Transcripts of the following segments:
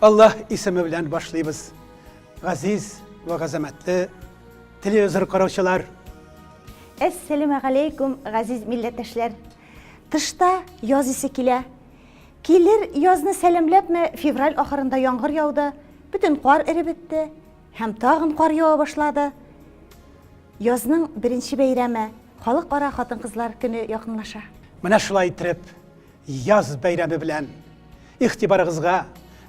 Аллаһ исеме белән башлыйбыз. Газиз вә газәмәтле телевизор караучылар! Әссәләмә галәйкүм, газиз милләттәшләр! Тышта яз исе килә. Килер язны сәламләпме, февраль ахырында яңгыр яуды, бөтен кар эреп бетте һәм тагын кар ява башлады. Язның беренче бәйрәме, Халыкара хатын-кызлар көне якынлаша. Менә шулай итеп, Яз бәйрәме белән игътибарыгызга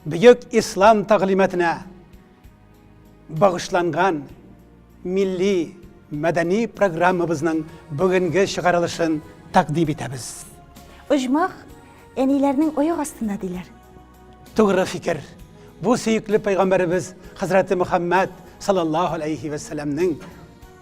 бөек ислам тәгълиматына багышланган милли мәдәни программабызның бүгенге чыгарылышын тәкъдим итәбез. Оҗмах әниләрнең аяк астында диләр. Тугры фикер. Бу сөекле пәйгамбәребез хәзрәте Мөхәммәд саллаллаһу алейхи вәсәләмнең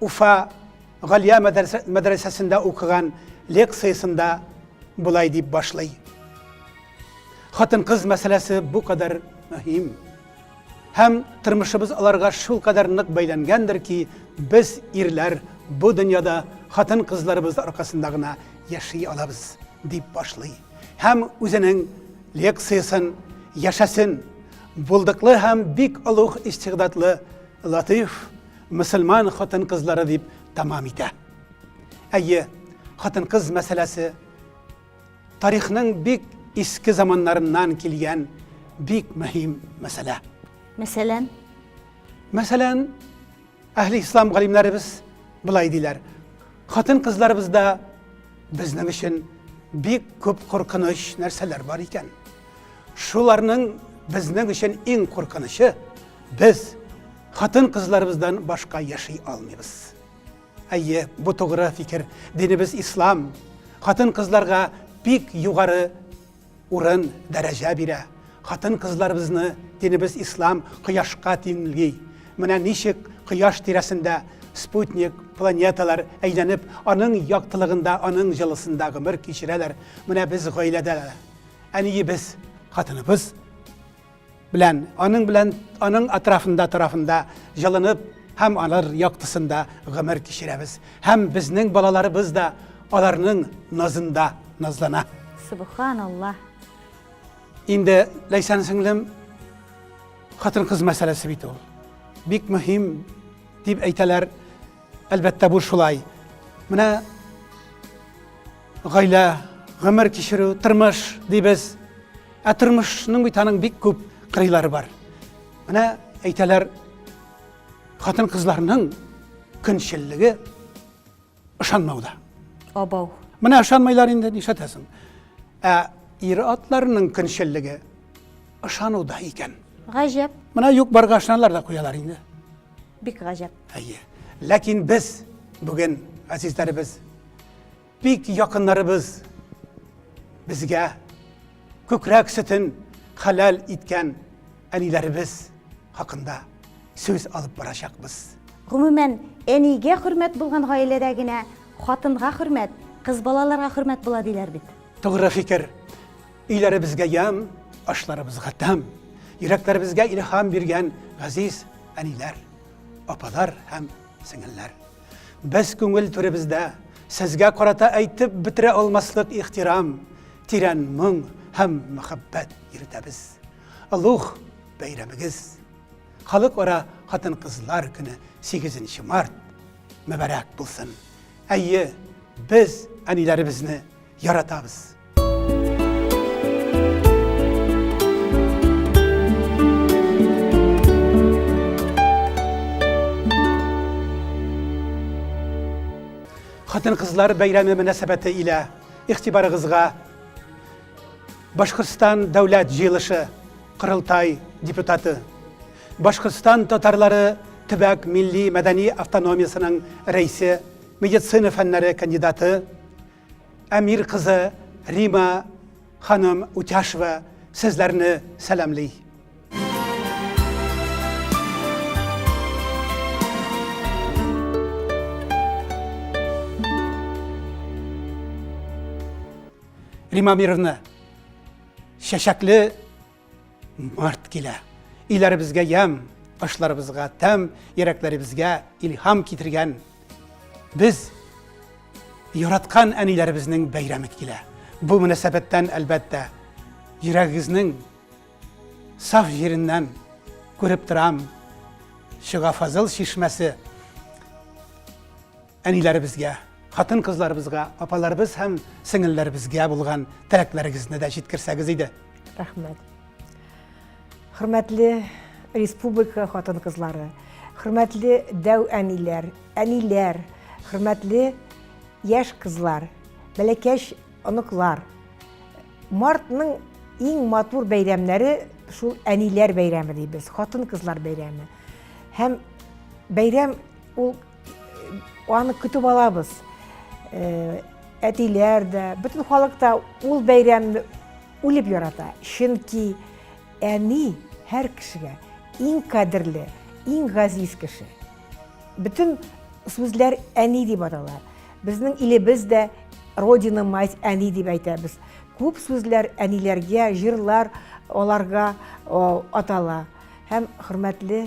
Уфа Галия мәдрәсәсендә укыган лекциясендә болай дип башлый. Хатын-кыз мәсьәләсе бу кадәр мөһим һәм тормышыбыз аларга шул кадәр нык бәйләнгәндер ки, без ирләр бу дөньяда хатын-кызларыбыз аркасында гына яши алабыз, дип башлый. Һәм үзенең лекциясен яшәсен булдыклы һәм бик олуг истигъдатлы Латыйф мөселман хатын-кызлары дип тәмам итә. Әйе, хатын-кыз мәсьәләсе тарихның бик иске заманнарыннан килгән бик мөһим мәсьәлә. Мәсәлән, мәсәлән, әһли ислам галимнәребез былай диләр. Хатын-кызларыбызда безнең өчен бик күп куркыныч нәрсәләр бар икән. Шуларның безнең өчен иң куркынычы без Хатын-кызларыбыздан башка яши алмыйбыз. Әйе, бу тугры фикер. Динебез ислам. Хатын-кызларга бик югары урын, дәрәҗә бирә. Хатын-кызларыбызны динебез ислам кояшка тиңли. Менә ничек кояш тирәсендә спутник, планеталар әйләнеп, аның яктылыгында, аның җылысында гомер кичерәләр. Менә без гаиләдә әниебез, хатыныбыз белән, аның белән, аның атрафында тарафында җылынып һәм алар яктысында гомер кичерәбез. Һәм безнең балаларыбыз да аларның назында назлана. Субханаллаһ. Инде Ләйсән сеңлем хатын-кыз мәсьәләсе бит ул. Бик мөһим дип әйтәләр Әлбәттә, бу шулай. Менә гаилә, гомер кичерү, тормыш дибез. Ә тормышның бит аның бик күп кырыйлары бар. Менә әйтәләр, хатын-кызларның көнчеллеге ышанмауда. Абау. Менә ышанмайлар инде, нишләтәсең? Ә ир атларының көнчеллеге ышануда икән. Гаҗәп. Менә юк барга ышаналар да куялар инде. Бик гаҗәп. Әйе. Ләкин без бүген әзизләребез, бик якыннарыбыз безгә күкрәк сөтен хәләл иткән әниләребез хакында сүз алып барачакбыз. Гомумән, әнигә хөрмәт булган гаиләдә генә хатынга хөрмәт, кыз балаларга хөрмәт була диләр бит. Тугры фикер. Өйләребезгә ям, ашларыбызга тәм, йөрәкләребезгә илһам биргән газиз әниләр, апалар һәм сеңелләр. Без күңел түребездә сезгә карата әйтеп бетерә алмаслык ихтирам, тирән моң һәм мәхәббәт йөртәбез. Алух бәйрәмегез. Халыкара хатын-кызлар көне 8 март мөбарәк булсын. Әйе, без әниләребезне яратабыз. хатын кызлар бәйрәме мөнәсәбәте илә игътибарыгызга башкортстан дәүләт җыелышы корылтай депутаты башкортстан татарлары төбәк милли мәдәни автономиясенең рәисе медицина фәннәре кандидаты Әмир кызы Рима ханым Утяшева сезләрне сәламли. Рима Мировна, чәчәкле Март килә. Өйләребезгә ям, ашларыбызга тәм, йөрәкләребезгә илһам китергән без яраткан әниләребезнең бәйрәме килә. Бу мөнәсәбәттән, әлбәттә, йөрәгегезнең саф җиреннән күреп торам, чыга Фазыл чишмәсе. Әниләребезгә, хатын-кызларыбызга, апаларыбыз һәм сеңелләребезгә булган теләкләрегезне дә җиткерсәгез иде. Рәхмәт. Хөрмәтле республика хатын-кызлары, хөрмәтле дәү әниләр, әниләр, хөрмәтле яшь кызлар, бәләкәч оныклар. Мартның иң матур бәйрәмнәре шул әниләр бәйрәме дибез, хатын-кызлар бәйрәме. Һәм бәйрәм ул Аны көтеп алабыз. Э, әтиләр дә, бөтен халык та ул бәйрәмне үлеп ярата. Чөнки әни һәр кешегә иң кадерле, иң газиз кеше. Бөтен сүзләр әни дип атала. Безнең илебез дә родина мать әни дип әйтәбез. Күп сүзләр әниләргә, җырлар аларга атала. Һәм хөрмәтле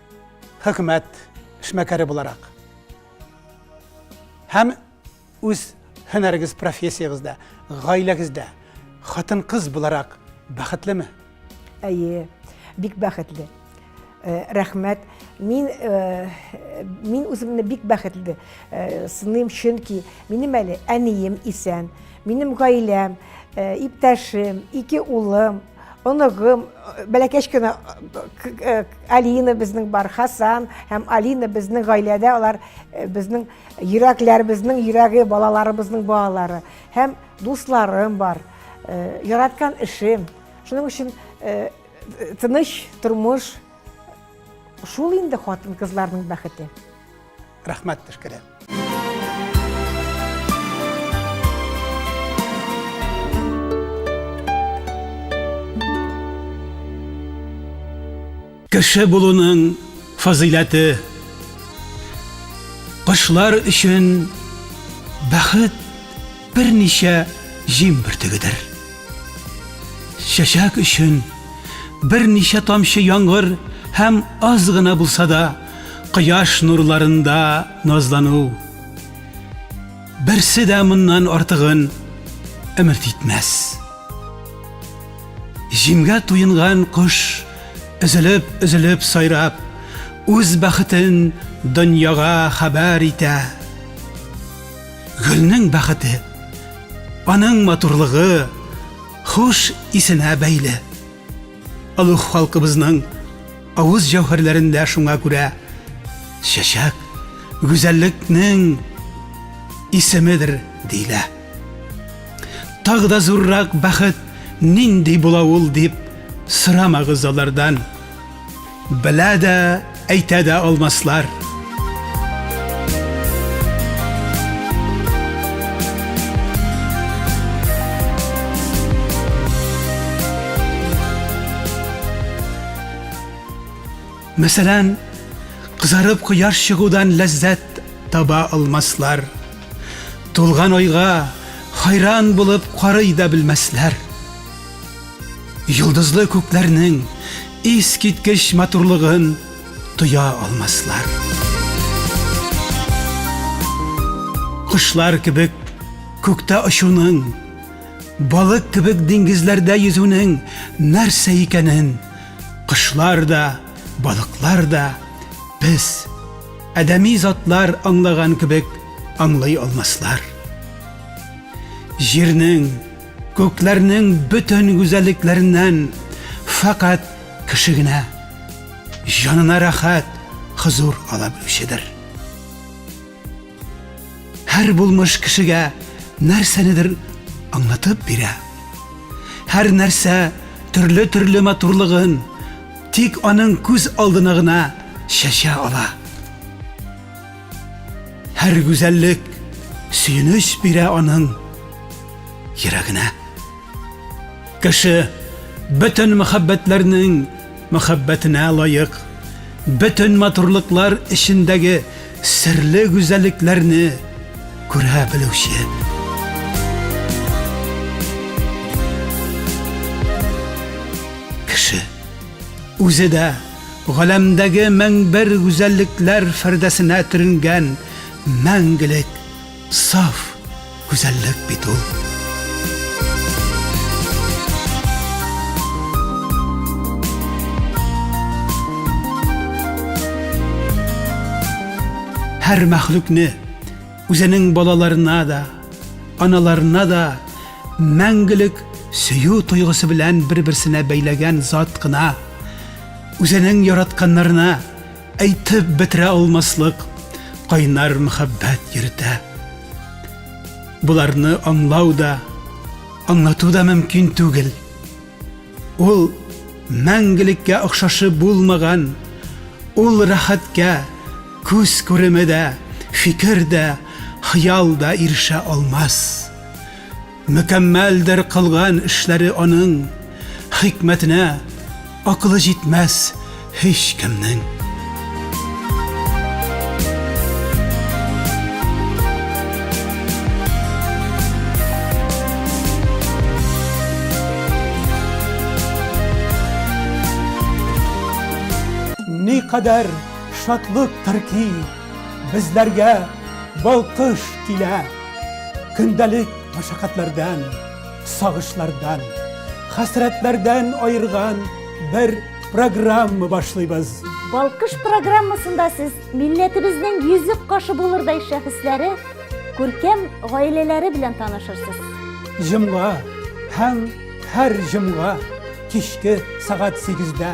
хөкүмәт эшмәкәре буларак һәм үз һөнәрегез профессиягездә гаиләгездә хатын кыз буларак бәхетлеме әйе бик бәхетле э, рәхмәт мин э, мин үземне бик бәхетле э, сыным чөнки минем әле әнием исән минем гаиләм иптәшем ике улым оныгым бәләкәч кенә алина безнең бар хасан һәм алина безнең гаиләдә алар безнең йөрәкләребезнең йөрәге балаларыбызның балалары һәм дусларым бар яраткан эшем шуның өчен тыныч тормыш шул инде хатын кызларның бәхете рәхмәт тешкерәм. Кеше булуның фазыйләте кошлар өчен бәхет Берничә җим бөртегедер. Чәчәк өчен берничә тамчы яңгыр һәм аз гына булса да кояш нурларында назлану. Берсе дә моннан артыгын өмет итмәс. Җимгә туенган кош өзелеп-өзелеп сайрап, үз бәхетен дөньяга хәбәр итә. Гөлнең бәхете, аның матурлыгы, хуш исенә бәйле. Олуг халкыбызның авыз җәүһәрләрендә шуңа күрә чәчәк гүзәллекнең исемедер диелә. Тагы да зуррак бәхет нинди була ул дип сорамагыз алардан. Белә дә, әйтә дә алмаслар. Мәсәлән, кызарып кояш чыгудан ләззәт таба алмаслар. Тулган айга хайран булып карый да белмәсләр. Йолдызлы күкләрнең искиткеч матурлыгын тоя алмаслар. Кошлар кебек күктә очуның, балык кебек диңгезләрдә йөзүнең нәрсә икәнен кошлар да, балыклар да, без, адәми затлар аңлаган кебек аңлый алмаслар. Җирнең Күкләрнең бөтен гүзәллекләреннән фәкать кеше генә җанына рәхәт, хозур ала белүчедер. Һәр булмыш кешегә нәрсәнедер аңлатып бирә. Һәр нәрсә төрле-төрле матурлыгын тик аның күз алдына гына чәчә ала. Һәр гүзәллек сөенеч бирә аның йөрәгенә. Кеше бөтен мәхәббәтләрнең мәхәббәтенә лаек, бөтен матурлыклар эчендәге серле гүзәллекләрне күрә белүче. Кеше үзе дә галәмдәге мең бер гүзәллекләр фәрдәсенә төренгән мәңгелек саф гүзәллек бит ул. Һәр мәхлукне, Үзенең балаларына да, аналарына да мәңгелек сөю тойгысы белән бер-берсенә бәйләгән зат кына, үзенең яратканнарына әйтеп бетерә алмаслык кайнар мәхәббәт йөртә. Боларны аңлау да, аңлату да мөмкин түгел. Ул мәңгелеккә охшашы булмаган, ул рәхәткә күз күреме дә, фикер дә, хыял да ирешә алмас. Мөкәммәлдер кылган эшләре аның, хикмәтенә акылы җитмәс, һич кемнең. Никадәр шатлыктыр ки, безләргә балкыш килә. Көндәлек мәшәкатьләрдән, сагышлардан, хәсрәтләрдән аерган бер программа башлыйбыз. Балкыш программасында сез милләтебезнең йөзек кашы булырдай шәхесләре, күркәм гаиләләре белән танышырсыз. Җомга һәм һәр җомга кичке сәгать 8-дә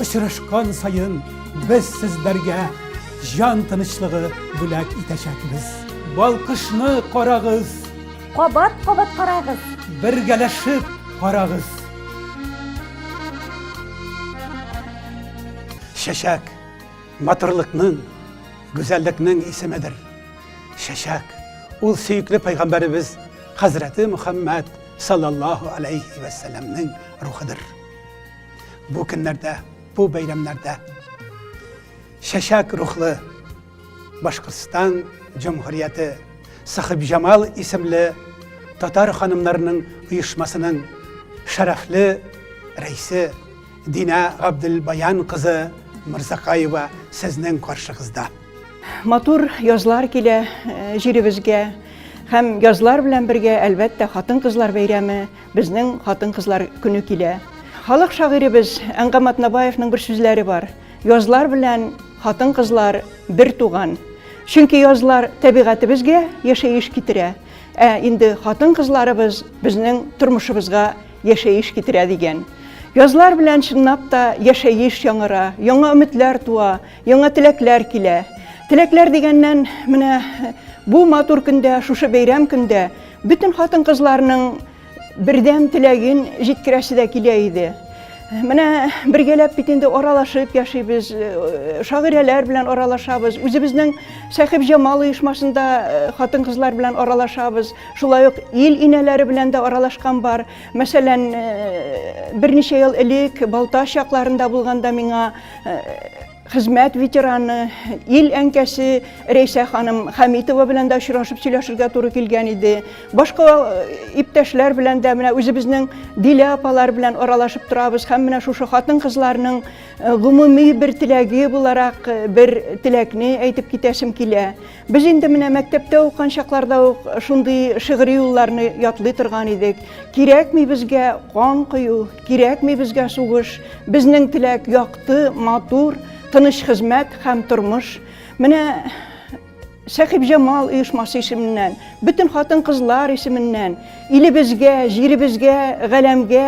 очрашкан саен без сезләргә җан тынычлыгы бүләк итәчәкбез. Балкышны карагыз! Кабат кабат карагыз. Бергәләшеп карагыз. Чәчәк матурлыкның, гүзәллекнең исемедер. Чәчәк ул сөекле пәйгамбәребез хәзрәте Мөхәммәд саллаллаһу алейхи вә сәләмнең рухыдыр. Бу көннәрдә, бу бәйрәмнәрдә Чәчәк рухлы Башкортстан Җомһурияте Сахибҗамал исемле татар ханымнарының оешмасының шәрәфле рәисе Динә Габделбаян кызы Мырзакаева сезнең каршыгызда. Матур язлар килә э, җиребезгә һәм язлар белән бергә әлбәттә хатын-кызлар бәйрәме, безнең хатын-кызлар көне килә. Халык шагыйребез Әңгам Атнабаевның бер сүзләре бар. Язлар белән хатын-кызлар бер туган. Чөнки язлар табигатебезгә яшәеш китерә, ә инде хатын-кызларыбыз безнең тормышыбызга яшәеш китерә дигән. Язлар белән чынлап та яшәеш яңара, яңа өметләр туа, яңа теләкләр килә. Теләкләр дигәннән, менә бу матур көндә, шушы бәйрәм көндә бөтен хатын-кызларның Бердәм теләген җиткерәсе дә килә иде. Менә бергәләп бит инде аралашып яшибез, э, шагыйрәләр белән аралашабыз, үзебезнең Сәхиб Җамал оешмасында э, хатын-кызлар белән аралашабыз. Шулай ук ил инәләре белән дә аралашкан бар. Мәсәлән, э, берничә ел элек Балта чакларында булганда миңа Хезмәт ветераны, ил әнкәсе Рәйсә ханым Хәмитова белән дә очрашып сөйләшергә туры килгән иде. Башка э, иптәшләр белән дә менә үзебезнең Дилә апалар белән аралашып торабыз һәм менә шушы хатын-кызларның э, гомуми бер теләге буларак э, бер теләкне әйтеп китәсем килә. Без инде менә мәктәптә укыган чакларда ук шундый шигъри юлларны ятлый торган идек. Кирәкми безгә кан кою, кирәкми безгә сугыш, безнең теләк якты, матур, тыныч хезмәт һәм тормыш. Менә Сәхибҗамал оешмасы исеменнән, бөтен хатын-кызлар исеменнән илебезгә, җиребезгә, галәмгә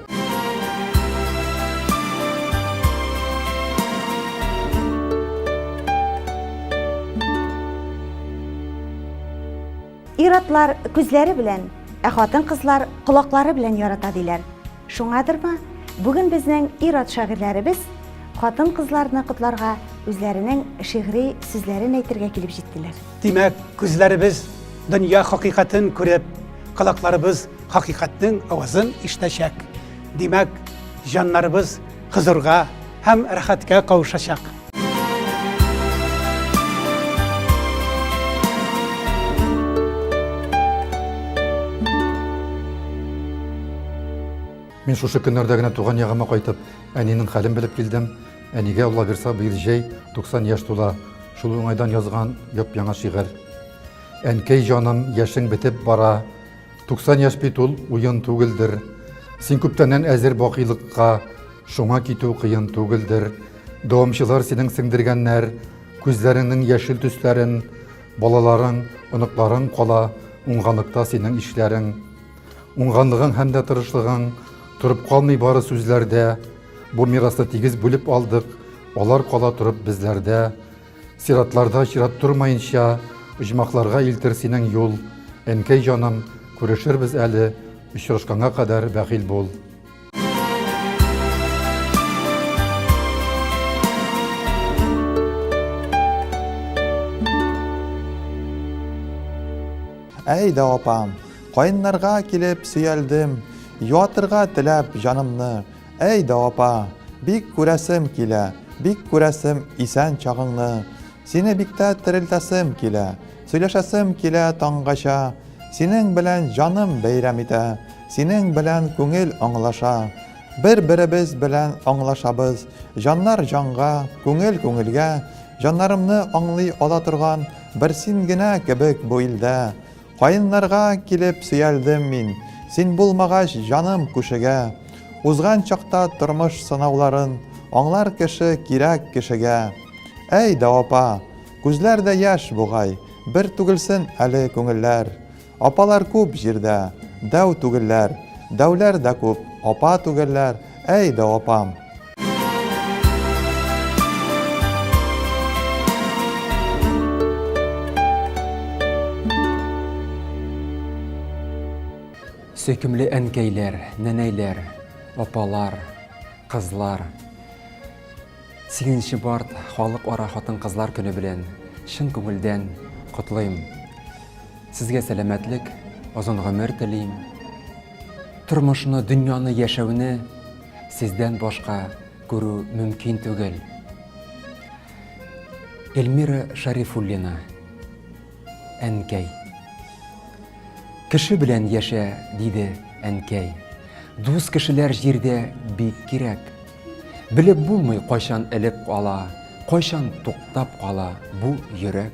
Ир-атлар күзләре белән, ә хатын-кызлар колаклары белән ярата диләр. Шуңадырмы, бүген безнең ир-ат шагыйрьләребез хатын-кызларны котларга үзләренең шигъри сүзләрен әйтергә килеп җиттеләр. Димәк, күзләребез дөнья хакыйкатен күреп, колакларыбыз хакыйкатьнең авазын ишетәчәк. Димәк, җаннарыбыз хозурга һәм рәхәткә кавышачак. Мин шушы көннәрдә генә туган ягыма кайтып, әнинең хәлен белеп килдем. Әнигә Алла бирса, быел җәй 90 яшь тула. Шул уңайдан язган яп-яңа шигырь. Әнкәй җаным, яшең бетеп бара, 90 яшь бит ул уен түгелдер. Син күптәннән әзер бакыйлыкка, шуңа китү кыен түгелдер. Дәвамчылар синең сеңдергәннәр, күзләреңнең яшел төсләрен, балаларың, оныкларың кала уңганлыкта синең ишләрең. Уңганлыгың һәм дә тырышлыгың торып калмый бары сүзләрдә. Бу мирасны тигез бүлеп алдык, алар кала торып безләрдә. Сиратларда чират тормаенча, Оҗмахларга илтер синең юл. Әнкәй җаным, күрешербез әле, Очрашканга кадәр бәхил бул. Әй дә апам, каеннарга килеп сөялдем, Юатырга теләп җанымны, Әй дә апа, бик күрәсем килә, Бик күрәсем исән чагыңны. Сине бик тә терелтәсем килә, Сөйләшәсем килә таңгача. Синең белән җаным бәйрәм итә, Синең белән күңел аңлаша. Бер-беребез белән аңлашабыз, Җаннар җанга, күңел күңелгә. Җаннарымны аңлый ала торган Бер син генә кебек бу илдә. Каеннарга килеп сөялдем мин, Син булмагач, җаным күшегә. Узган чакта тормыш сынауларын Аңлар кеше кирәк кешегә. Әй дә апа, күзләр дә яшь бугай, Бер түгелсен әле күңелләр. Апалар күп җирдә, дәү түгелләр, Дәүләр дә күп, апа түгелләр, Әй дә апам. Сөйкемле әнкәйләр, нәнәйләр, апалар, кызлар. 8 март халык ара хатын-кызлар көне белән чын күңелдән котлыйм. Сезгә сәламәтлек, озын гомер телим. Тормышны, дөньяны, яшәүне сездән башка күрү мөмкин түгел. Эльмира Шарифуллина, әнкәй. Кеше белән яшә, диде әнкәй. Дус кешеләр җирдә бик кирәк. Белеп булмый, кайчан элеп кала, кайчан туктап кала бу йөрәк.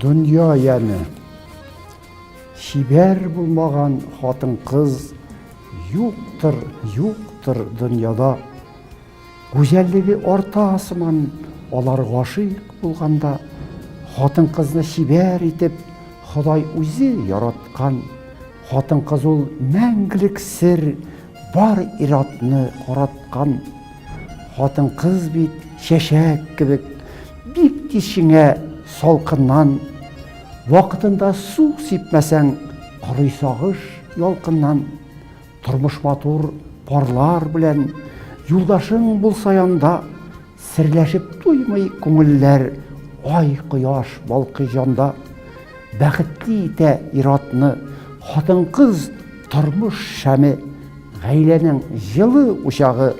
Дөнья яне. Чибәр булмаган хатын-кыз юктыр, юктыр дөньяда. Гүзәллеге арта сыман алар гашыйк булганда, хатын-кызны чибәр итеп Ходай үзе яраткан. Хатын-кыз ул мәңгелек сер, бар иратны караткан. Хатын-кыз бит чәчәк кебек, бик тиз шиңә салкыннан. Вакытында су сипмәсәң, корый сагыш ялкыннан. Тормыш матур парлар белән юлдашың булса янда, Серләшеп туймый күңелләр, ай, кояш балкый җанда. Бәхетле итә ир-атны хатын-кыз тормыш шәме, Гаиләнең җылы учагы,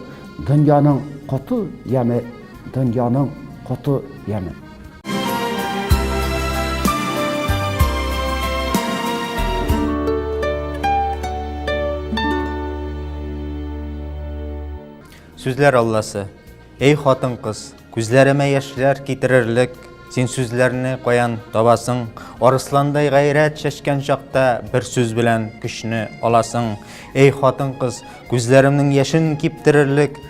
дөньяның коты яме, Дөньяның коты яме. Сүзләр Алласы. Эй хатын кыз, күзләремә яшьләр китерерлек, син сүзләрне каян табасың? Арысландай гайрәт чәчкән чакта бер сүз белән көчне аласың. Эй хатын кыз, күзләремнең яшен киптерерлек,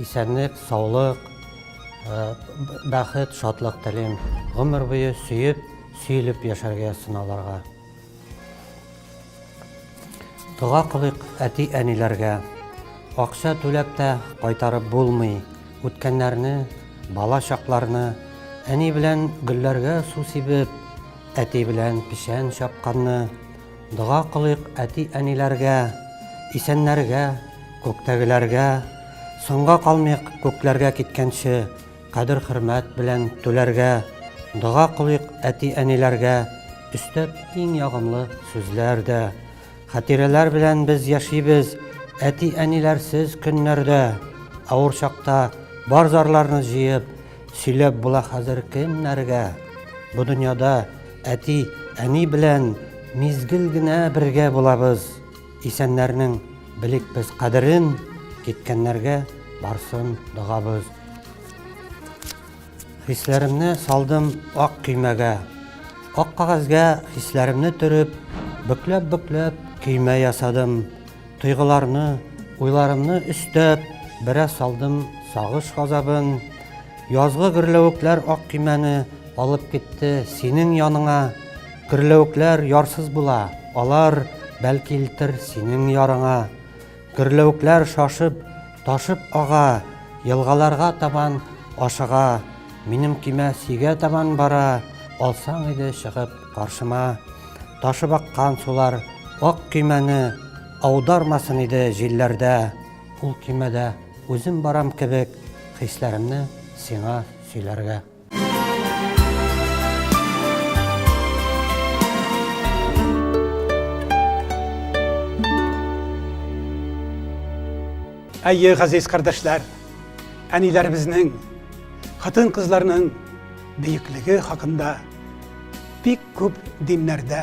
Исәнлек, саулык, бәхет, шатлык телим. Гомер буе сөеп, сөелеп яшәргә сыналарга. Дога кылыйк әти-әниләргә. Акча түләп тә кайтарып булмый үткәннәрне, бала чакларны. Әни белән гөлләргә су сибеп, әти белән печән чапканны. Дога кылыйк әти-әниләргә, исәннәргә, күктәгеләргә, соңга калмыйк күкләргә киткәнче, кадер-хөрмәт белән түләргә. Дога кылыйк әти-әниләргә, өстәп иң ягымлы сүзләр дә. Хатирәләр белән без яшибез, әти-әниләрсез көннәрдә. Авыр чакта бар зарларны җыеп, сөйләп була хәзер кемнәргә? Бу дөньяда Әти, әни белән мизгел генә бергә булабыз. Исәннәрнең белик без кадерен, киткәннәргә барсын догабыз. Хисләремне салдым ак көймәгә. Ак кагазьгә хисләремне төреп, бөкләп-бөкләп көймә ясадым. Тойгыларны, уйларымны өстәп, бераз салдым сагыш газабын. Язгы гөрләвекләр ак көймәне алып китте синең яныңа. Гөрләвекләр ярсыз була, алар бәлки илтер синең ярыңа. Гөрләвекләр шашып, ташып ага, елгаларга табан ашыга. Минем көймә сөйгә табан бара, алсаң иде чыгып каршыма. Ташып аккан сулар ак көймәне аудармасын иде җилләрдә. Кул көймәдә үзем барам кебек, хисләремне сиңа сөйләргә. Әйе, газиз кардәшләр, әниләребезнең, хатын-кызларның бөеклеге хакында бик күп диннәрдә,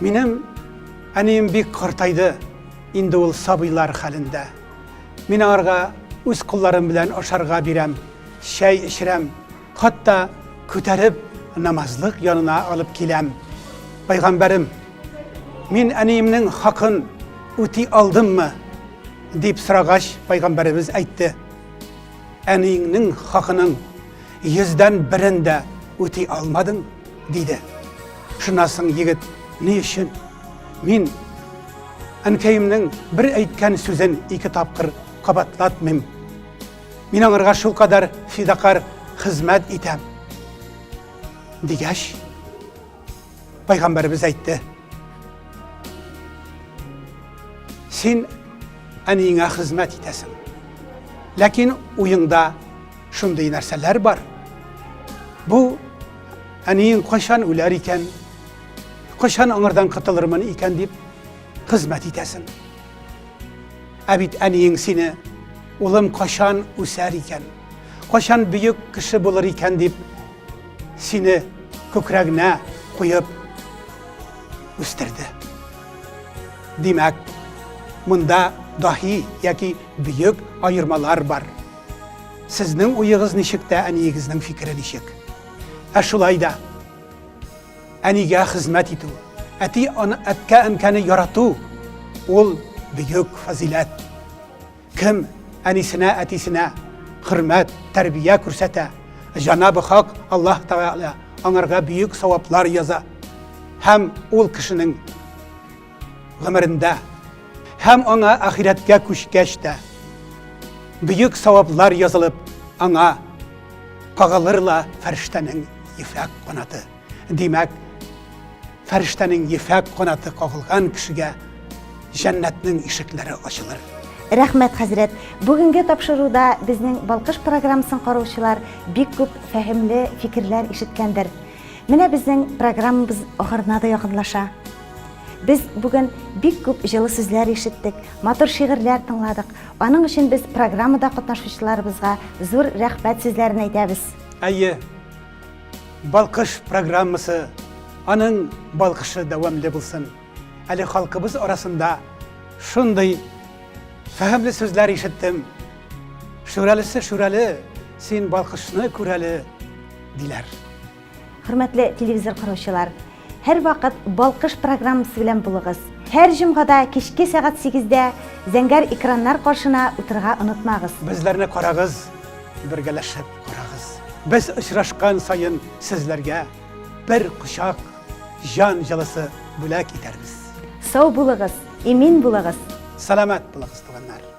Минем әнием бик картайды, инде ул сабыйлар хәлендә. Мин аңарга үз кулларым белән ашарга бирәм, чәй эчерәм, хатта күтәреп намазлык янына алып киләм. Пайгамбәрем, мин әниемнең хакын үти алдыммы? дип сорагач, пайгамбәребез әйтте. Әниеңнең хакының йөздән берен дә үти алмадың, диде. Шуннан соң егет, ни өчен? Мин әнкәемнең бер әйткән сүзен ике тапкыр кабатлатмыйм. Мин аңарга шулкадәр фидакар хезмәт итәм. Дигәч, Пайгамбарыбыз әйтте. Син әниеңә хезмәт итәсең. Ләкин уеңда шундый нәрсәләр бар. Бу әниең кайчан үләр икән? Кайчан аңардан котылырмын икән дип хезмәт итәсең. Ә бит әниең сине улым кайчан үсәр икән? Кайчан бөек кеше булыр икән дип сине күкрәгенә куеп үстерде. Димәк, монда даһи яки бөек аермалар бар. Сезнең уегыз ничек тә әниегезнең фикере ничек? Ә шулай да әнигә хезмәт итү, әти аны әткә әнкәне ярату ул бөек фазиләт. Кем әнисенә, әтисенә хөрмәт, тәрбия күрсәтә, җанабы Хак Аллаһ Тәгалә аңарга бөек саваплар яза һәм ул кешенең гомерендә һәм аңа ахирәткә күчкәч тә бөек саваплар язылып, аңа кагылыр ла фәрештәнең ефәк канаты. Димәк, фәрештәнең ефәк канаты кагылган кешегә җәннәтнең ишекләре ачылыр. Рәхмәт, хәзрәт. Бүгенге тапшыруда безнең Балкыш программасын караучылар бик күп фәһемле фикерләр ишеткәндер. Менә безнең программабыз ахырына да якынлаша. Без бүген бик күп җылы сүзләр ишеттек, матур шигырьләр тыңладык. Аның өчен без программада катнашучыларыбызга зур рәхмәт сүзләрен әйтәбез. Әйе, Балкыш программасы, аның балкышы дәвамле булсын. Әле халкыбыз арасында шундый фәһемле сүзләр ишеттем. Шүрәлесе шүрәле, син балкышны күрәле, диләр. Хөрмәтле телевизор караучылар, Һәрвакыт Балкыш программасы белән булыгыз. Һәр җомгада кичке сәгать 8дә зәңгәр экраннар каршына утырырга онытмагыз. Безләрне карагыз, бергәләшеп карагыз. Без очрашкан саен сезләргә бер кочак җан җылысы бүләк итәрбез. Сау булыгыз, имин булыгыз. Сәламәт булыгыз, туганнар.